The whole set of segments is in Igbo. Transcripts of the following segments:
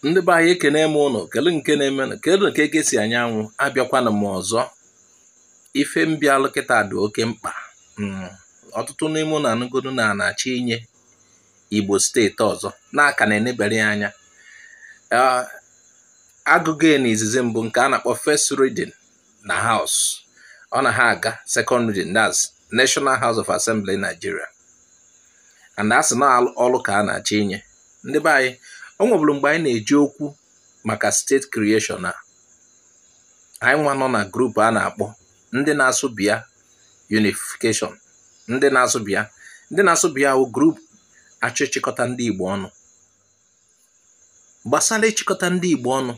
ndị be anyị ekene m ụnụ kele nke na-eme na kele ka eke si anya anwụ abịakwana m ọzọ ife mbịalụ kịta dị oke mkpa mm, ọtụtụ n'ime ụnụ anụgodu na a na-achọ inye igbo steeti ọzọ na a ka na-enebere ya anya agụgo ya na izizi mbụ nke a na-akpọ first reading na house ọ na ha aga second reading that's National House of Assembly Nigeria and asị na Orlu ka a na-achọ inye ndị be anyị o nwebụrụ mgbe anyị na-eje okwu maka state creation a anyị nwa nọ na group a na-akpọ ndị na-asụ bịa unification ndị na-asụ bịa ndị na-asụ bịa wụ group achọ ịchịkọta ndị Igbo ọnụ gbasara ịchịkọta ndị Igbo ọnụ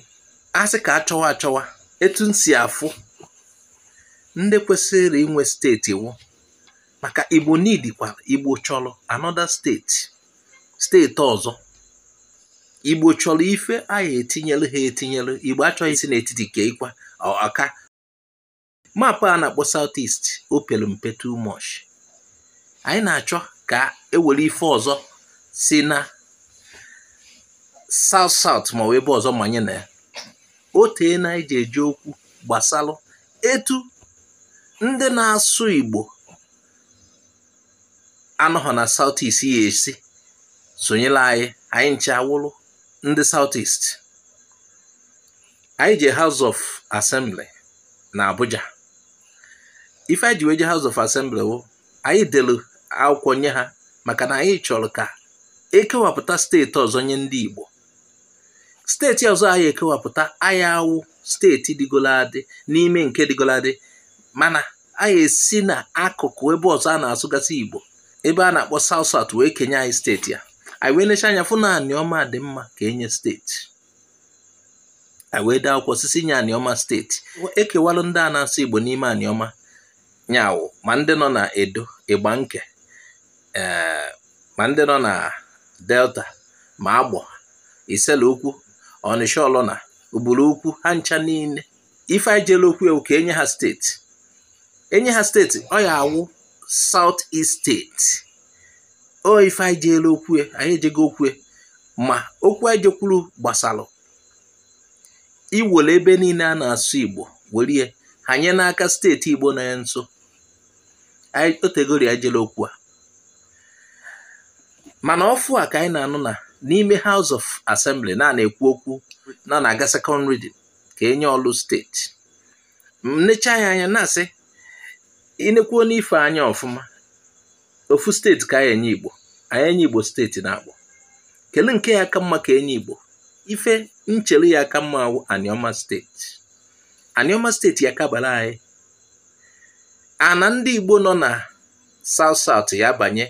a sị ka achọwa achọwa etu m si afụ ndị kwesịrị inwe steeti wụ maka Igbo needịkwa Igbo chọrọ another steeti steeti ọzọ Igbo chọrọ ife a ya-etinyere ha etinyere Igbo achọghị isi n'etiti keikwa ọka map a na-akpọ south east o pere mpe too much anyị na-achọ ka ewere ife ọzọ si na south south ma ọ wụ ebe ọzọ manye na ya o teena anyị ji eje okwu gbasara etu ndị na-asụ igbo anọghọ na South East ya-esi sonyelụ anyị anyị ncha awụrụ ndị South East anyị jee House of Assembly na Abuja ife anyị ji wee je House of Assembly wụ anyị delu akwụkwọ nye ha maka na anyị chọrọ ka ekewapụta steeti ọzọ nye ndị Igbo steeti ọzọ a ya-ekewapụta aya awụ steeti dịgolo adị n'ime nke dịgolo adị mana a ya-esi na akụkụ ebe ọzọ a na-asụgasị Igbo ebe a na-akpọ South South wee kenye anyị steeti a anyị wee necha anya fụ na Anioma dị mma ka enye steeti anyị wee dee akwụkwọ sị sị nye Anioma steeti ekewalụ ndị a na-asụ Igbo n'ime Anioma nya wụ ma ndị nọ na Edo Igbanke ee ma ndị nọ na delta ma agbọ isele ukwu ọnịsha ọlọna ubulu ukwu ha ncha niile ife anyị jere okwu e wụ ka enye ha steeti enye ha steeti ọ ya-awụ south east steeti ọ ife anyị jere okwu e, anyị ejego okwu e. ma okwu anyị jekwuru gbasara iwere ebe niile a na-asụ igbo were ya hanye n'aka steeti igbo nọ ya nso o tegori anyị jere okwu a mana ọfụ a ka anyị na-anụ na n'ime House of Assembly na a na-ekwu okwu na na-aga second reading ka enye Ọlụ steeti m necha ya anya na-asị inekwuo n'ife anya ọfụma ofu steeti ka a ya-enye Igbo a ya-enye Igbo steeti naabọ kele nke ya aka mma ka enye Igbo ife n chere ya aka mma awụ Anioma steeti Anioma steeti ya kabara anyị ana ndị Igbo nọ na South South ya banye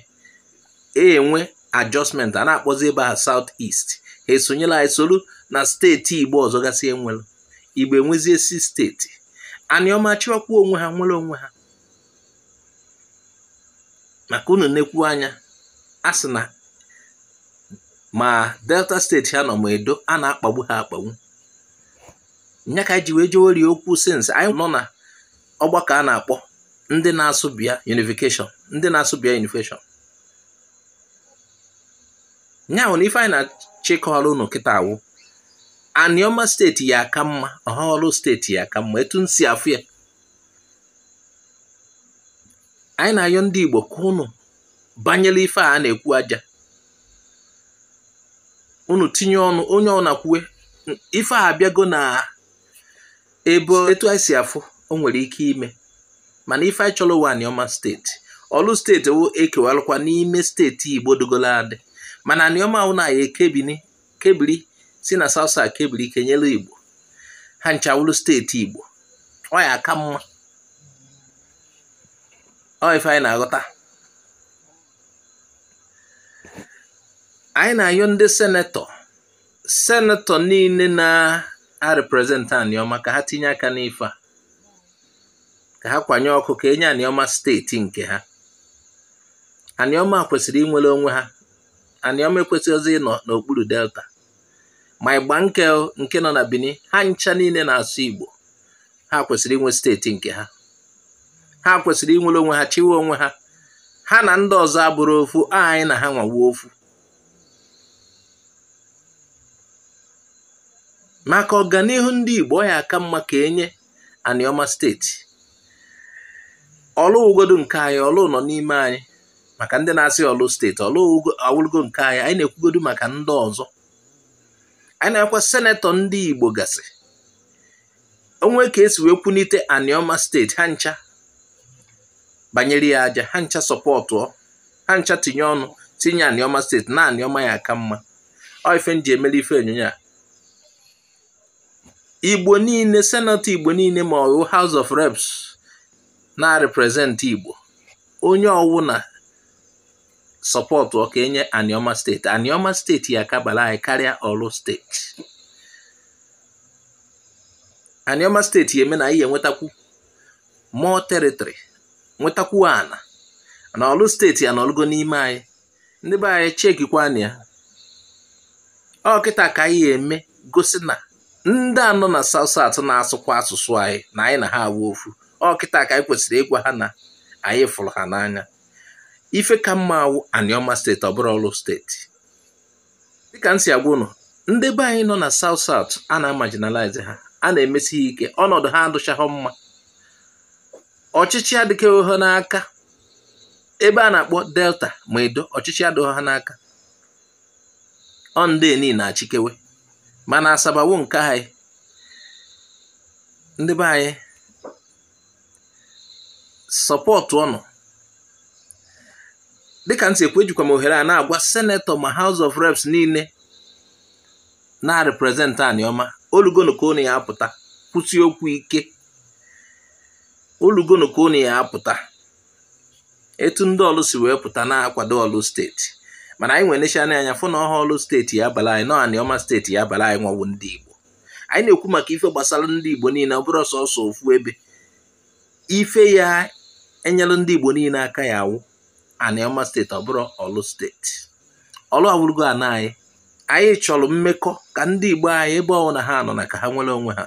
enwe adjustment a na-akpọzi ebe ha South East ha esonyere anyị soro na steeti Igbo ọzọ gasị enwere Igbo enwezie six steeti Aniọma chịwakwuo onwe ha nwere onwe ha maka unu nekwu anya a sị na ma Delta steeti ha nọ ma Edo a na-akpagbu ha akpagbu nya ka nji wee jeweri okwu since anyị nọ na ọgbakọ a na-akpọ ndị na-asụ bịa unification ndị na-asụ bịa unification nya hụ na ife anyị na-achịkọrọ unu kịta awụ Aniọma steeti ya aka mma ọha Ọlụ steeti ya aka mma etu nsi afụ ya anyị na-ayọ ndị Igbo ka unu banyere ife a na-ekwu aja unu tinye ọnụ onye ọwụna kwue ife a abịago na ebe etu anyị si afụ o nwere ike ime mana ife anyị chọrọ wụ Anioma steeti Ọlụ steeti wụ ekewalụkwa n'ime steeti Igbo dịgolo adị mana Anioma wụ na ya ekebini kebiri si na South South kebiri kenyere Igbo ha ncha wụrụ steeti Igbo ọ ya aka mma ọ ife anyị na-aghọta anyị na-ayọ ndị senetọ senetọ niile na-represent Aniọma ka ha tinye aka n'ife a ka ha kwanye ọkụ ka enye Aniọma steeti nke ha Aniọma kwesịrị inwere onwe ha Anioma ekwesịghịzi ịnọ n'okpuru Delta ma Igbanke nke nọ na Benin ha ncha niile na-asụ Igbo ha kwesịrị inwe steeti nke ha ha kwesịrị inwere onwe ha chịwe onwe ha ha na ndị ọzọ abụrụ ofu anyị na ha nwawo ofu maka ọganihu ndị Igbo ọ ya aka mma ka enye Anioma steeti Ọlụ wụgodu nke anyị Ọlụ nọ n'ime anyị maka ndị na-asị Orlu steeti Orlu awụlụgo nke anyị anyị na-ekwugodu maka ndị ọzọ anyị na-agwa senetọ ndị Igbo gasị o nwee ka e si wee kwunite Anioma steeti ha ncha banyere ya aja ha ncha sọpọtụọ ha ncha tinye ọnụ tinye Anioma steeti na Anioma ya aka mma ọ ife m ji eme ife onyonyo a igbo niile senetọ igbo niile ma ọ wụ house of reps na-represent igbo onye ọwụna sọpọtụọ ka e nye Anioma steeti Anioma steeti ya aka abara anyị karịa Orlu steeti Anioma steeti ya eme na anyị enwetakwu more territory nwetakwu ana na Orlu steeti ya nọlụgo n'ime anyị ndị be anyị chekikwana ya ọ kịta ka anyị eme gosi na ndị a nọ na South South na-asụkwa asụsụ anyị na anyị na ha awụ ofu ọ kịta ka anyị kwesịrị ịgwa ha na anyị fụrụ ha n'anya ife ka mma awụ Anioma steeti ọ bụrọ Orlu steeti dịka m si agwa ụnụ ndị be anyị nọ na South South a na-marginalize ha a na-emesi ha ike ọnọdụ ha adụchaghị mma ọchịchị adịkeghị ha n'aka ebe a na-akpọ delta ma edo ọchịchị adịghị ha n'aka ọ ndị niile na-achịkewe mana Asaba wụ nke anyị ndị be anyị sọpọtụọnụ dịka m si ekwu ejikwa m ohere a na-agwa senetọ ma House of Reps niile na-represent Anioma olugonu ka unu ya apụta kwusie okwu ike olugonu ka unu ya apụta etu ndị Orlu si wee pụta na-akwado Orlu steeti mana anyị nwa enechana anya fụ na ọhọ Orlu steeti ya abala anyị na ọ Anioma steeti ya abala anyị nwa wụ ndị Igbo anyị na-ekwu maka ife gbasara ndị Igbo niile ọ bụrọ sọsọ ofu ebe ife ya enyelụ ndị Igbo niile aka ya awụ Anioma steeti ọ bụrọ Orlu steeti Orlu awụrụgo ana anyị anyị chọrọ mmekọ ka ndị Igbo anyị ebe ọwụna ha nọ na ka ha nwere onwe ha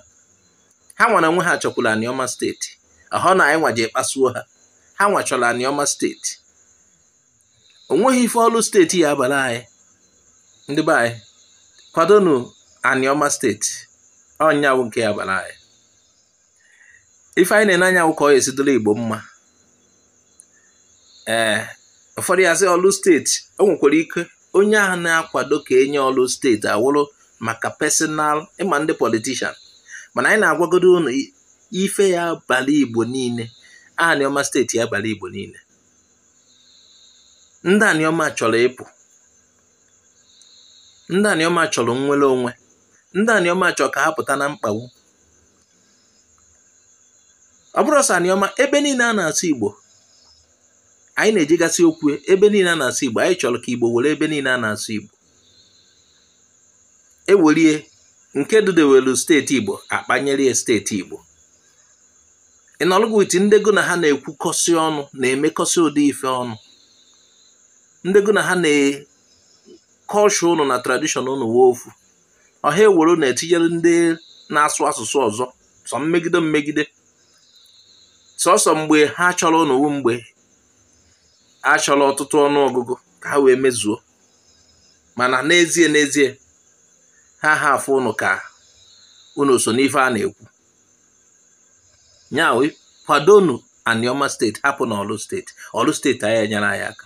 ha nwa na onwe ha chọkwara Anioma steeti ọhọ na anyị nwa je kpasuo ha ha nwa chọrọ Anioma steeti o nweghị ife Orlu steeti ya abara anyị ndị be anyị kwadonu Anioma steeti ọ ya wụ nke ya abara anyị ife anyị na-ene anya wụ ka ọ ya esi dịrị Igbo mma ee eh, ụfọdụ ya asị Orlu steeti o nwekwara ike onye ahụ na-akwado ka e nye Orlu steeti awụrụ maka personal ị ma ndị politician mana anyị na-agwagodo ụnụ ife ya abala igbo niile aniọma steeti ya abala igbo niile ndị aniọma chọrọ ịpụ ndị aniọma chọrọ nnwere onwe ndị aniọma chọrọ ka ha pụta na mkpagbu ọ bụrụ sọ aniọma ebe niile a na-asụ igbo anyị na-ejigasị okwu ebe niile a na-asụ igbo anyị chọrọ ka igbo were ebe niile a na-asụ igbo e were nke dudewelu steeti igbo akpanyere ya steeti igbo ị nọlụ gụ wit ndị gụ na ha na-ekwukọsị ọnụ na-emekọsị ụdị ife ọnụ ndị gụ na ha na kọlchọ ụnụ na tradishọn ụnụ wụ ofu ọha ewere ụnụ etinyere ndị na-asụ asụsụ ọzọ sọ mmegide mmegide sọsọ mgbe ha chọrọ ụnụ wụ mgbe a chọrọ ọtụtụ ọnụ ọgụgụ ka ha wee mezuo mana n'ezie n'ezie ha ha afụ ụnụ ka ụnụ so n'ife a na-ekwu nya wụ kwadonu Anioma steeti hapụnụ Orlu steeti Orlu steeti anyị enyere anyị aka